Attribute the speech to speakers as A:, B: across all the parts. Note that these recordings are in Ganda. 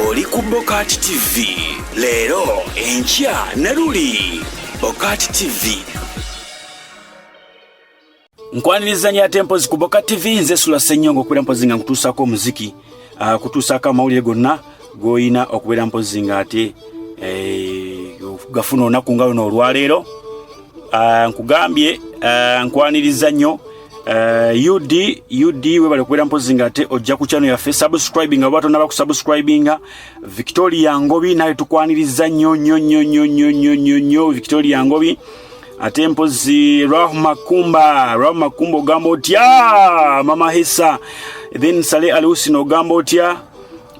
A: oli ku bokati tv leero enkya ne luli bokati tv nkwanirizanya ate mpozi ku boka tv nze sula senyonga okubeera mpozi nga nkutuusaako omuziki ah, kutuusaako amawulire gonna goyina okubeera mpozi nga ate eh, gafuna olunaku nga luno olwaleero ah, nkugambye ah, nkwaniriza nnyo Uh, eh, ud ud webale kubeera mpozi nga ate ojja ku channel yaffe subscribing oba tonaba kusubscribinga victoria ngobi naye tukwaniriza nyo nyo nyo nyo nyo nyo nyo nyo victoria ngobi ate mpozi rahma kumba rahma kumba ogamba otya mama hisa then sale alusi nogamba otya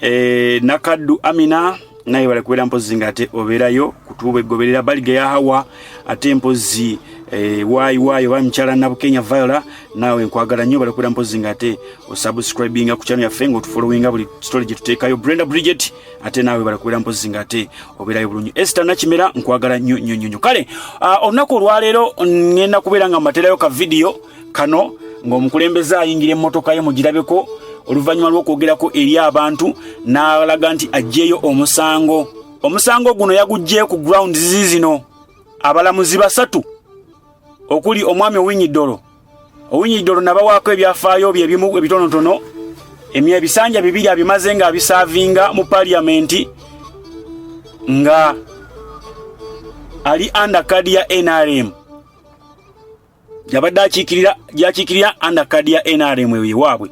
A: eh, nakaddu amina naye bale kubeera mpozi nga ate obeerayo kutuuba egoberera baliga ya hawa ate mpozi e, wayi wayi oba mukyala nabukenya viola naawe nkwagala nnyo bale kubeera mpozi nga ate osubscribinga ku kyano yaffe nga otufolowinga buli story gye tuteekayo brenda bridget ate naawe bale kubeera mpozi nga ate obeerayo bulungi esta nakimera nkwagala nnyo nnyo nnyo kale ah, olunaku olwaleero ngenda kubeera nga mbateerayo ka vidiyo kano ng'omukulembeze ayingira emmotoka ye mugirabeko oluvannyuma lw'okwogerako eri abantu n'alaga nti aggyeyo omusango omusango guno yaguggyeyo ku ground zizi zino abalamuzi basatu okuli omwami owinyidolo owinyidolo nabawaako ebyafaayo bye ebimu ebitonotono emye ebisanja bibiri abimaze nga abisaavinga mu paliyamenti nga ali andakadi ya nrm yabadde akiikirira gyakiikirira under card ya nrm eyo yewaabwe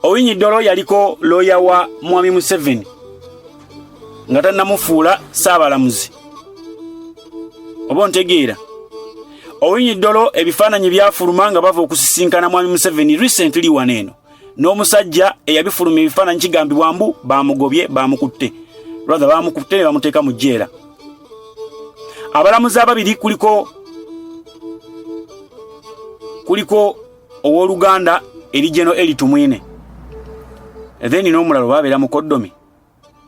A: owinyi dolo yaliko looya wa mwami museveni nga tannamufuula saabalamuzi oba ontegeera owinyi dolo ebifaananyi byafuluma nga bava okusisinkana mwami museveni recently wano eno n'omusajja eyabifuluma ebifaananyi kigambibwa mbu baamugobye baamukutte rather baamukutte ne bamuteeka mu jjeera abalamuzi ababiri kuliko kuliko ow'oluganda erijeno elitumwine then n'omulala oba abeera mukoddomi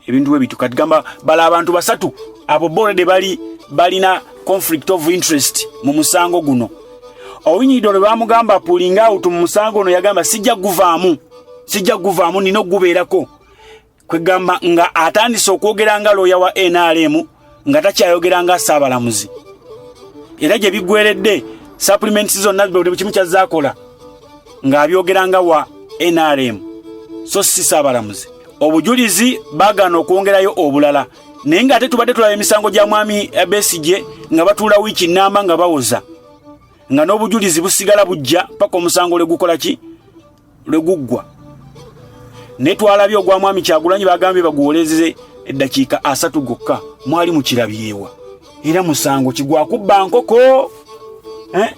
A: ebintu bwe bitu kati gamba bala abantu basatu abo bona de bali balina conflict of interest mu musango guno owinyido lwe bamugamba pulinga awutu mu musango ono yagamba sijja guvaamu sijja guvaamu nina okugubeerako kwegamba nga atandise okwogera nga looya wa nrm nga takyayogera nga saabalamuzi era gye biggweredde supplements zonna buli kimu kyazaakola ng'abyogera nga wa nrm so si saabalamuzi obujulizi bagaana okwongerayo obulala naye nga ate tubadde tulaba emisango gya mwami besigye nga batuula wiiki nnamba nga bawoza nga n'obujulizi busigala bujja paka omusango lwe gukola ki lwe guggwa naye twalabye ogwa mwami kyagulanyi bagambye baguwolezeze eddakiika asatu gokka mwali mukirabyewa era musango kigwakubba nkoko eh?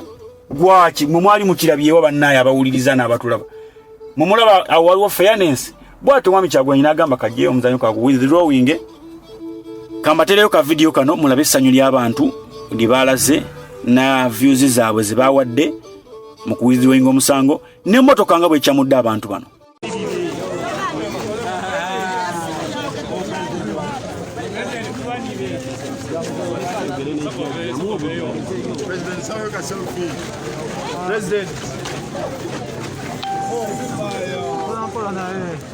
A: gwaki mwe mwali mukirabyewa bannaaye abawuliriza n'abatulaba mumulaba awo waliwo fairness bwati omwami kyagulanyi n'agamba kajeyo omuzanyo kagu withdrawing kambatereyo ka vidiyo kano mulabe essanyu ly'abantu lye baalaze na views zaabwe ze baawadde mu kuwithdrawing omusango ne motoka nga bwekyamudde abantu bano President.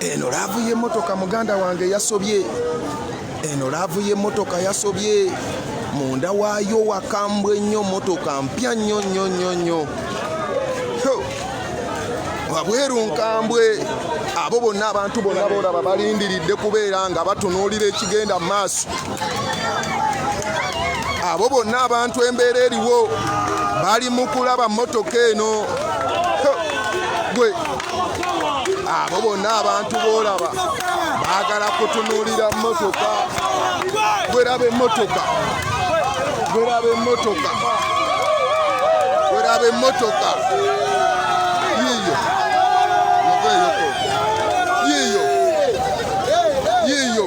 B: eno laavu y'emmotoka muganda wange yasobye eno laavu y'emmotoka yasobye munda waayo wakambwa ennyo motoka mpya nnyo nnyo nnyo nnyo wabweru nkambwe abo bonna abantu bonna bolaba balindiridde kubeera nga batunuulira ekigenda mu maaso abo bonna abantu embeera eriwo bali mu kulaba mmotoka eno gwe abo bonna abantu boolaba baagala kutunuulira mmotoka gweraba emmotoka gweraba emmotoka gweraba emmotoka yiiyo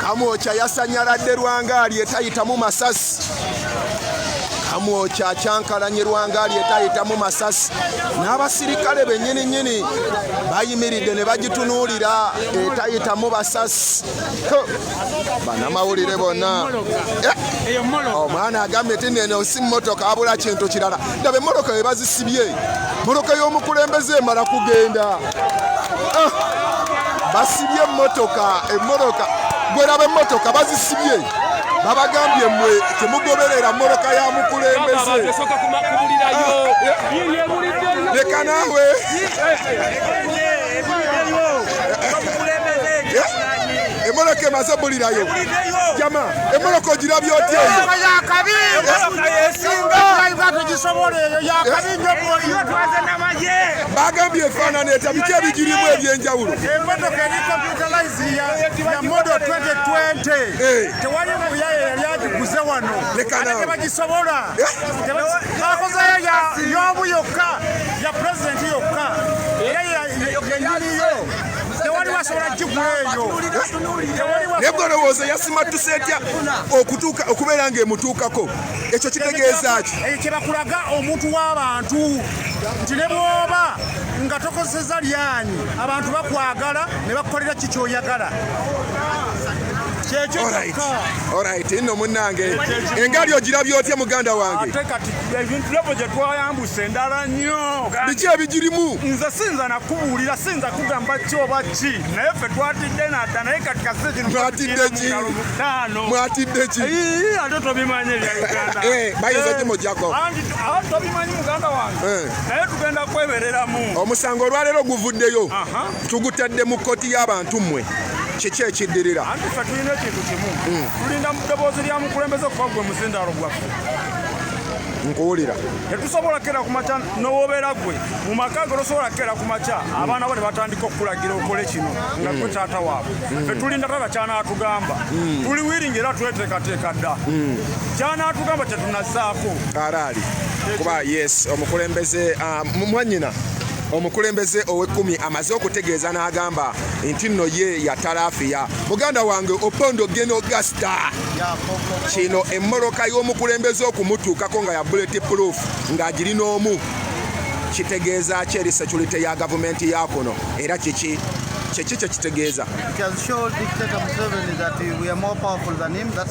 B: Kamwokya yasanyaladde Lwangaali etayitamu masasi. Kamwokya akyankalanye Lwangaali etayitamu masasi n'abasirikale bennyini nnyini bayimiridde ne bagitunuulira etayitamu basasi. Banamawulire bonna eh, omwana agambye ti neno si mmotoka abula kintu kirala ndaba emmoloka we bazisibye moloka y'omukulembeze emala kugenda. ah, basibye emmotoka emmotoka gweraba emmotoka bazisibye babagambye mwe temugoberera mmotoka ya mukulembeze leka naawe emoloka emaze bulirayo jama emoloka ogirabya otyeyo Baagambye efaanana eta biki ebigirimu eby'enjawulo. Emmotoka eri
C: computerized ya ya model 2020. Eh. Tewali muyaye yali agiguze wano. Leka Ate nawe. tebagisobola. Eh. Teba- Bakozeyo ya y'omu yokka ya president yokka. Era ya- ya- yennyini yo. Tewali wasobola gigula eyo. Tewali wasobola- Naye
B: gwe olowooza yasimattuse etya okutuuka okubeera ng'emutuukako? Ekyo kitegeeza ki? Ekyo kye bakulaga
C: omuntu w'abantu. nti ne bwoba nga tokozeseza lyanyi abantu bakwagala ne bakukolera ki kyoyagala orit
B: nno munnange engali ogirabye otya muganda wange ate kati ebintu
C: byabo gye twayambusa endala nnyo biki ebigirimu
B: nze siyinza
C: nakubuulira siyinza kugamba ki oba ki naye ffe twatidde nadda naye kati kasekinmwatidde
B: ki ate tobimanyi
C: ebya uganda eh, bayinza kimujako
B: eh, tobimanyi
C: muganda wange eh. naye tugenda kwebereramu omusango olwaleero
B: guvuddeyo tugutadde mu kkooti y'abantu mmwe kiki ekiddirira anti fe tulina ekintu
C: kimu hmm. tulinda mu ddoboozi lya mukulembeze kuba gwe muzindaalo gwaffe
B: nkuwulira tetusobola
C: kera ku makya nowobeera gwe mu maka ge tosobola kera ku makya abaana bo ne batandika okukulagira okole kino nga gwe taata waabwe fe tulinda tata kyanaatugamba hmm. tuli wiringi era tweteekateeka dda hmm. kyanaatugamba tetunazaako karaali
B: kuba yes omukulembeze ah, mwanyina omukulembeze ow'ekkumi amaze okutegeeza n'agamba nti nno ye yatalaafiya muganda wange opondo geno gasta kino emmoloka y'omukulembeze okumutuukako nga ya buleti proof ng'agiri n'omu kitegeeza ki eri security ya gavumenti ya kuno era kiki kyeki kyekitegeeza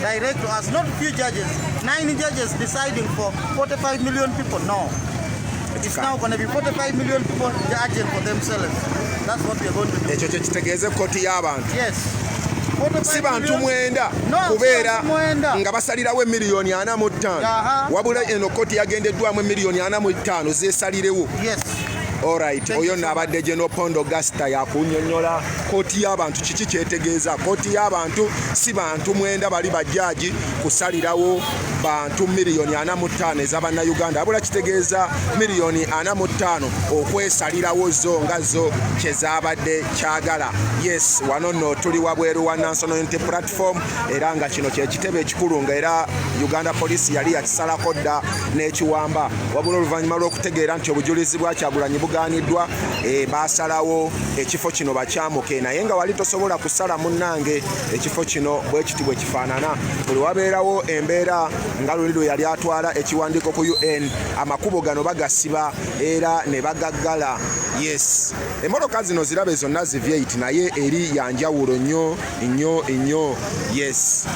D: Direct to us, not few judges. Nine judges deciding for 45 million people. No. It's now going to be 45 million people judging for themselves. That's what we are going to do. Ekyo kye kitegeeza ekkooti
B: y'abantu. Yes.
D: si
B: bantu mwenda kubeera nga basalirawo emiliyoni ana mu ttaano wabula eno kkooti yagendeddwamu emiliyoni
D: ana mu
B: ttaano zeesalirewo orit oyo nno abadde geno pondo gasita yakunyonyola kooti y'abantu kiki kyetegeeza kooti y'abantu si bantu mwenda bali bajjaaji kusalirawo bantu miliyoni ana mu ttaano eza bannayuganda abula kitegeeza miliyoni ana mu ttaano okwesalirawo zo nga zo kye zaabadde kyagala yes wano nno tuli wabweru wa nansonal unity platform era nga kino kyekitebe ekikulu nga era uganda poliisi yali yakisalako dda n'ekiwamba wabula oluvannyuma lw'okutegeera nti obujulizi bwakyagulanyi bugaaniddwa e, baasalawo ekifo kino bakyamuke naye nga wali tosobola kusala munnange ekifo kino bwe kiti bwe kifaanana buli wabeerawo embeera nga luli lwe yali atwala ekiwandiiko ku un amakubo gano bagasiba era ne bagaggala yes emmotoka zino zirabe zonna zivyeit naye eri yanjawulo nnyo nnyo nnyo yes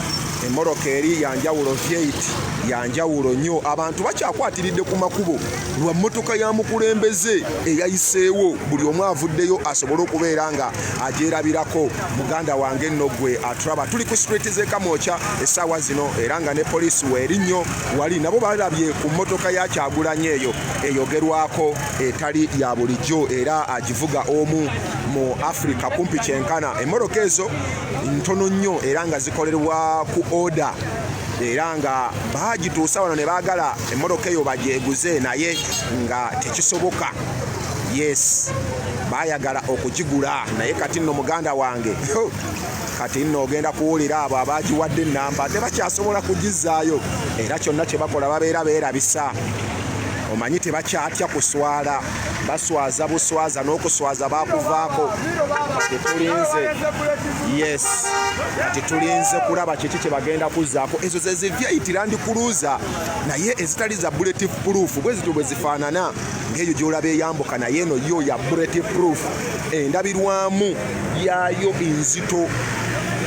B: emmotoka eri yanjawulo vyeit yanjawulo nnyo abantu bakyakwatiridde ku makubo lwa mmotoka ya mukulembeze eyayiseewo buli omu avuddeyo asobole okubeera nga agyerabirako muganda wange nno gwe aturaba tuli ku street zekamwokya essaawa zino era nga ne poliisi weeri nnyo wali nabo balabye ku mmotoka ya kyagulanya eyo eyogerwako etali ya bulijjo era agivuga omu mu afirika kumpi kyenkana emmotoka ezo ntono nnyo era nga zikolerwa ku oda era nga baagituusa wano ne baagala emmotoka eyo bagyeguze naye nga tekisoboka yes bayagala okugigula naye kati nno muganda wange kati nno ogenda kuwulira abo abagiwadde ennamba tebakyasobola kugizaayo era kyonna kyebakola babeera beerabisa omanyi tebakyatya kuswala baswaza buswaza n'okuswaza bakuvaako kati tulinze yes kati tulinze kulaba kiki kyebagenda kuzzaako ezo zezivya itirandikuluuza naye ezitali za bulletive proof bwe zityo bwe zifaanana ng'eyo gy'olaba eyambuka naye eno yo ya bulletive proof endabirwamu yaayo enzito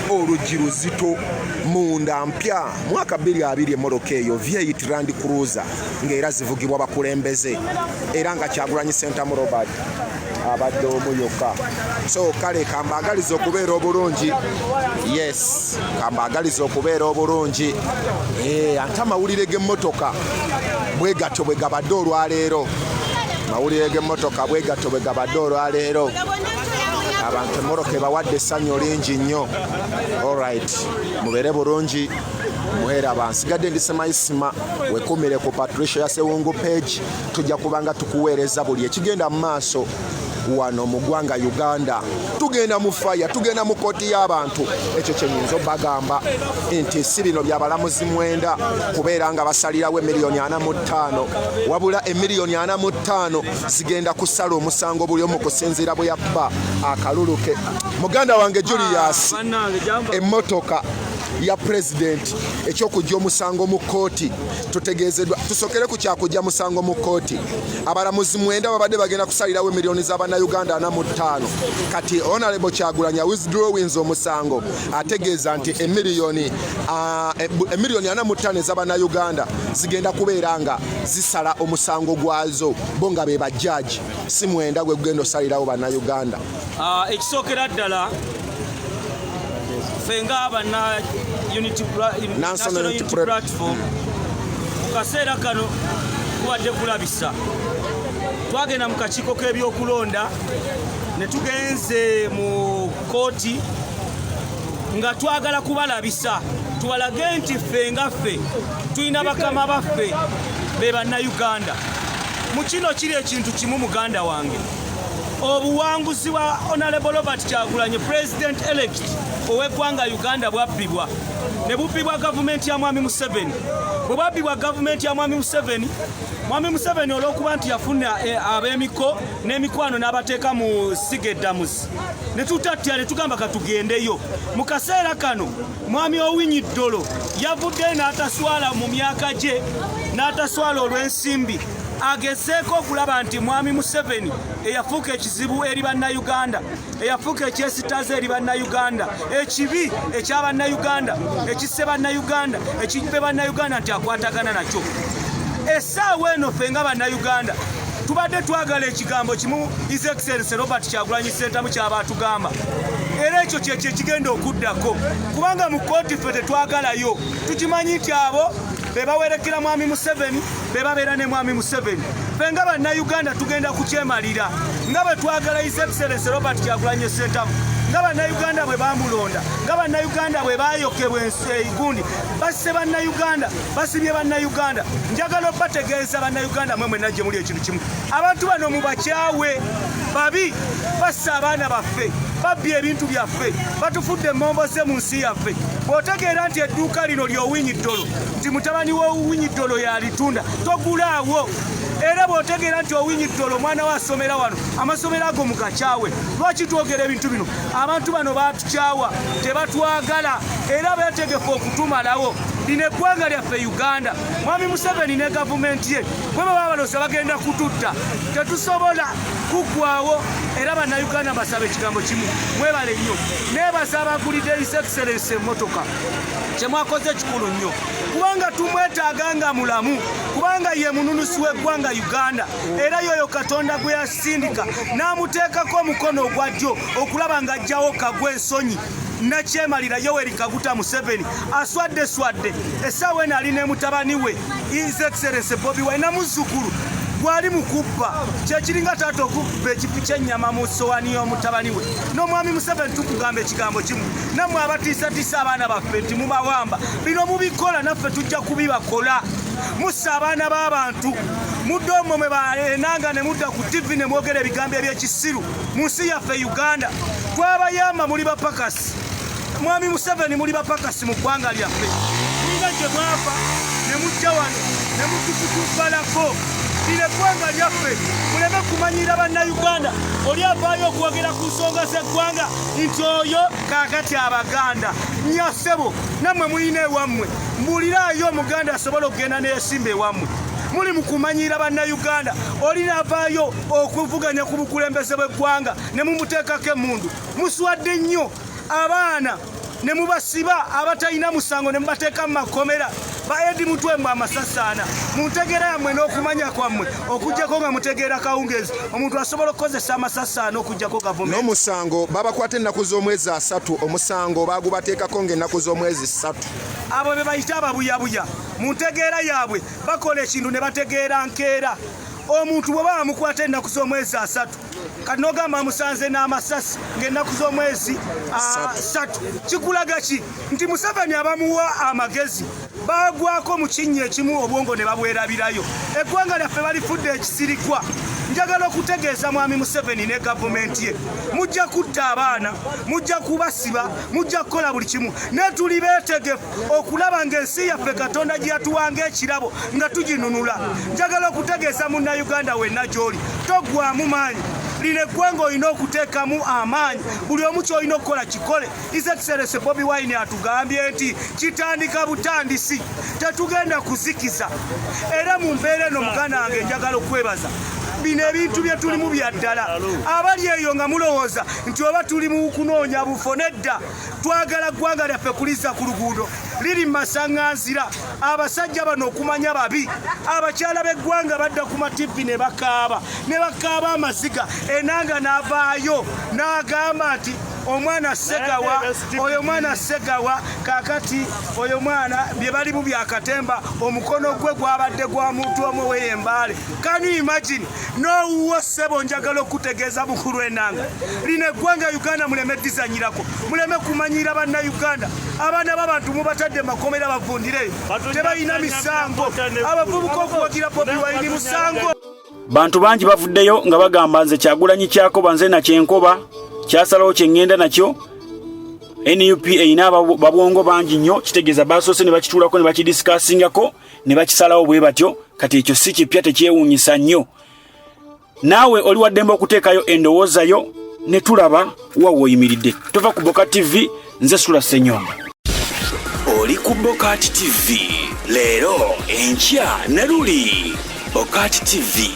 B: oluggi luzito munda mpya mwaka 22 emmotoka eyo vyeit rand cruiser ng'era zivugibwa bakulembeze era nga kyagulanyi sentamu robert abadde omu yokka so kale kambaagaliza okubeera obulungi yes kambaagaliza okubeera obulungi eh, ate amawulire g'emmotoka bwe gatyo bwe gabadde olwaleero amawulire g'emmotoka bwe gatyo bwe gabadde olwaleero abantu emmotoka ebawadde essanyu lingi nnyo olrit mubeere bulungi muhera bansigadde ndi semayisima wekumire ku patricia yasewungu page tujja kubanga tukuweereza buli ekigenda mu maaso wano mu ggwanga uganda tugenda mu faya tugenda mu kooti y'abantu ekyo kyenyinza obagamba nti si bino byabalamuzi mwenda kubeera nga basalirawo emiliyoni ana mu ttaano wabula emiliyoni ana mu ttaano zigenda kusala omusango buli omu kusinziira bwe yabba akalulu ke muganda wange julius ah, emmotoka ya pulezidenti ekyokujja omusango mu kooti tutegeezeddwa tusokere ku kyakujja musango mu kkooti abalamuzi mwenda babadde bagenda kusalirawo emiliyoni za bannayuganda ana mu ttaano kati onalebo kyagulanya withdrawings omusango ategeeza nti emiliyoni emiliyoni ana mu ttaano eza bannayuganda zigenda kubeera nga zisala omusango gwazo bo nga be bajjaaji si mwenda gwe gugenda osalirawo bannayuganda Ah, ekisookera
E: ddala ffe nga banna national unity platform mu kaseera kano kubadde kulabisa twagenda mu kakiiko k'ebyokulonda ne tugenze mu kooti nga twagala kubalabisa tubalage nti ffe nga ffe tulina bakama baffe be bannayuganda mu kino kiri ekintu kimu muganda wange obuwanguzi bwa honorable robert kyagulanyi president elect ow'eggwanga uganda bwabbibwa ne bubbibwa gavumenti ya mwami museveni bwe bwabbibwa gavumenti ya mwami museveni mwami museveni olw'okuba nti yafuna eh, ab'emiko n'emikwano n'abateeka mu siga eddamuzi ne tutatya ne tugamba katugendeyo mu kaseera kano mwami owinyi ddolo yavuddeyo n'ataswala mu myaka gye n'ataswala olw'ensimbi agezeeko okulaba nti mwami museveni eyafuuka ekizibu eri bannayuganda eyafuuka ekyesitaza eri bannayuganda ekibi ekya bannayuganda ekisse bannayuganda ekibbe bannayuganda nti akwatagana nakyo esaawa eno ffe nga bannayuganda tubadde twagala ekigambo kimu his excellence robert kyagulanyi sentamu kyaba atugamba era ekyo kyekyo ekigenda okuddako kubanga mu kooti ffe tetwagalayo tukimanyi nti abo bebawerekera mwami museveni bebabeera ne mwami museveni fe nga bannayuganda tugenda kukyemalira nga bwe twagala his excellence robert kyagulanye sentamu nga bannayuganda bwe bamulonda nga bannayuganda bwe bayokebwa eigundi basse bannayuganda basibye bannayuganda njagala obategeeza bannayuganda mwe mwena gye muli ekintu kimu abantu bano mubakyawe babi bassa abaana baffe babbye ebintu byaffe batufudde emmombo ze mu nsi yaffe bw'otegeera nti edduuka lino ly'owinyi ddolo nti mutabani w'owinyi ddolo yalitunda togulaawo era bwotegeera nti owinyi ddolo omwana we asomera wano amasomero ago mugakyawe lwaki twogera ebintu bino abantu bano batukyawa tebatwagala era betegefu okutumalawo lino eggwanga lyaffe uganda mwami museveni ne gavumenti ye bwe baba balosa bagenda kututta tetusobola kuggwawo era bannayuganda basaba ekigambo kimu mwebale nnyo nebaza abagulidde his excellence emmotoka kyemwakoze ekikulu nnyo kubanga tumwetaaga nga mulamu kubanga ye mununusi w'eggwanga uganda era yoyo katonda gwe yasindika n'amuteekako omukono ogwa ddyo okulaba ng'ajjawo kagwa ensonyi nakyemalira yoweri kaguta museveni aswadde swadde essaawa eno ali ne mutabani we His Excellency Bobi Wine na muzzukulu gwali mu kubba kyekiringa taata okubba ekifu kyennyama mu sowani y'omutabani we n'omwami museveni tukugamba ekigambo kimu nammwe abatiisatiisa abaana baffe nti mubawamba bino mubikola naffe tujja kubibakola mussa abaana b'abantu mudde omwo mwe baenanga ne mudda ku tivi ne mwogera ebigambo eby'ekisiru mu nsi yaffe uganda twabayamba muli bapakas Mwami Museveni muli bapakasi mu ggwanga lyaffe mulina gye mwava ne mujja wano ne mutukutubalako lino eggwanga lyaffe muleme kumanyira bannayuganda oli avaayo okwogera ku nsonga z'eggwanga nti oyo kaakati abaganda nyasebo nammwe mulina ewammwe mbuliraayo omuganda asobola okugenda neyesimba ewammwe muli mu kumanyiira bannayuganda oli navaayo okuvuganya ku bukulembeze bw'eggwanga ne mumuteekako emundu muswadde nnyo abaana ne mubasiba abatalina musango ne mubateeka mu makomera baedi mutwe mbu amasasaana mu ntegeera yammwe n'okumanya kwammwe okugyako nga mutegeera kawungeezi omuntu asobola okukozesa amasasaana okugyako gavumenti n'omusango babakwata
B: ennaku z'omwezi asatu omusango baagubateekako ng'ennaku z'omwezi ssatu abo be bayita
E: ababuyabuya mu ntegeera yaabwe bakola ekintu ne bategeera nkeera omuntu bwe baba mukwata ennaku z'omwezi asatu kati nogamba amusanze n'amasasi ng'ennaku z'omwezi asatu ah, kikulaga ki nti museveni abamuwa amagezi bagwako mu kinnya ekimu obwongo ne babwerabirayo eggwanga lyaffe balifudde ekisirikwa njagala okutegeeza mwami museveni ne gavumenti ye mujja kutta abaana mujja kubasiba mujja kukola buli kimu naye tuli beetegefu okulaba ng'ensi yaffe katonda gye yatuwanga ekirabo nga tuginunula njagala okutegeeza munnayuganda wenna gy'oli toggwamu maanyi lino eggwanga olina okuteekamu amaanyi buli omu kyolina okukola kikole isekiserese bobi wine atugambye nti kitandika butandisi tetugenda kuzikiza era mu mbeera eno muganda wange njagala okwebaza bino ebintu bye tulimu bya ddala abali eyo nga mulowooza nti oba tuli mu kunoonya bufo nedda twagala ggwanga lyaffe kulizza ku luguudo liri mu masaŋŋanzira abasajja bano okumanya babi abakyala b'eggwanga badda ku matibbi ne bakaaba ne bakaaba amaziga enanga n'avaayo n'agamba nti omwana segawa oyo mwana segawa kakati oyo mwana bye balimu byakatemba omukono gwe gwabadde gwa muntu omu oweyembaale Can you imagine? No uwo sebo njagala okutegeeza mukulu enanga lino eggwanga Uganda muleme dizanyirako muleme kumanyira banna Uganda abaana b'abantu mubatadde makomera bavundireyo tebalina misango abavubuka okuwagira Bobi Wine musango bantu bangi
A: bavuddeyo nga bagamba nze kyagulanyi kyakoba nze nakyenkoba kyasalawo kyeŋŋenda nakyo nup erina babwongo bangi nnyo kitegeeza baasoose ne bakituulako ne bakidisikaasingako ne bakisalawo bwe batyo kati ekyo si kipya tekyewuunyisa nnyo naawe oli waddembe okuteekayo endowooza yo ne tulaba wa woyimiridde tova ku boka tv nze sula senyonga oli ku bokat tv leero enkya ne luli bokat tv